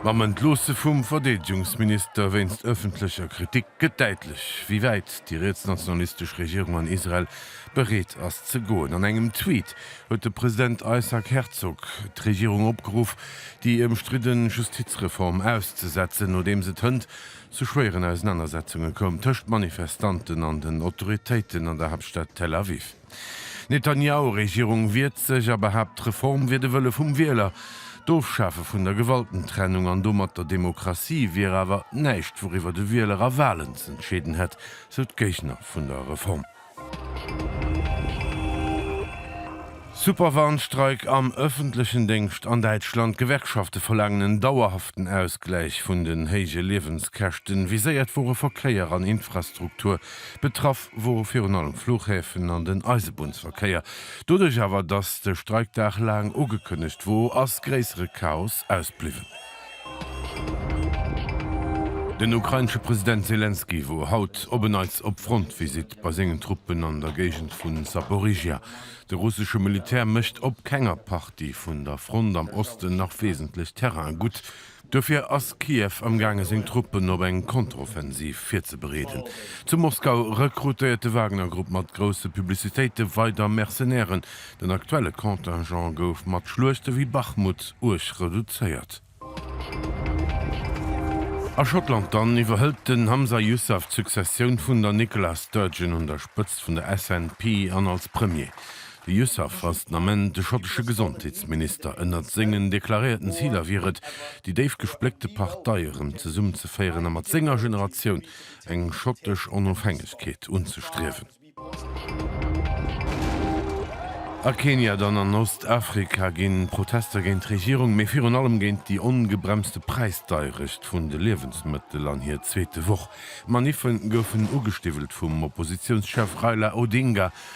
Mam Entloosse vum Verdeedegungsminister wéinst ëffentlecher Kritik gëtt däitlech, wéi wäit déi rietsnationalistesch Regierung an Israel bereet ass ze goen. An engem Tweet huet de President Isaac Herzog d'Regierung opgeruff, déi ëmstridde Justizreform auszesetzen, nodeems et hënt zu schwéieren Ausenanersetzunge koum tëscht Manifestanten an den Autoritéiten an der Haaptstad Tel Aviv. D'Netanjahu-Regierung wiert sech a behaapt d'Reform wier de Wëlle vum Wieler. D'Ofschafe vun der Gewaltentrennung an domat der Demokratie wier awer näischt wouriwwer de Wieler a Walen z'entscheeden hätt, sou d'Géigner vun der Reform. Superwarnstreik am ëffentlechen Déngscht an Däitschland, D'Gewerkschafte verlaangen en dauerhaften Ausgläich vun den héije Liewenskäschten. Viséiert wore Verkéier an Infrastruktur, betraff wor virun allem Fluchhäfen an den Eisebunnsverkéier. Doduerch awer, dass de Streik Dag laang ugekënnegt wor, ass gréissere Chaos ausbliwwen. Den ukrainesche President Selenskyj wor haut op e Neits op Frontvisite bei sengen Truppen an der Géigend vu Saporižžja. De russesche Militär mécht op kenger Partie vun der Front am Osten nach wesentlech Terrain gutt. Dofir ass Kiew amgaange seng Truppen op eng Kontroffensiv virzebereeden. Zu Moskau rekrutéiert de Wagner-Grupp mat grousse Publicitéite weider Mercenairen. Den aktuelle Contingent gouf mat Schluechte wéi Bachmut uerg reduzéiert. A Schottland dann iwwerhëlt den Humza Yousaf d'Successioun vun der Nicola Sturgeon un der Spëtzt vun der SNP an als Premier. De Yousaf fasst am Enn de schottesche Gesondheetsminister. Ënnert sengen deklaréierten Ziler wier et, déi déif gespléckte Partei erëm zesummenzeféieren a mat senger Generatioun eng schottesch Onofhängegkeet unzestriewen. A Kenia dann an Ostafrika ginn d'Protester géint d'Regierung, mee virun allem géint déi ongebremste Präisdeierecht vun de Liewensmëttel an hir zweete Woch. D'Maniffen goufen ugestiwwelt vum Oppositiounschef Raila Odinga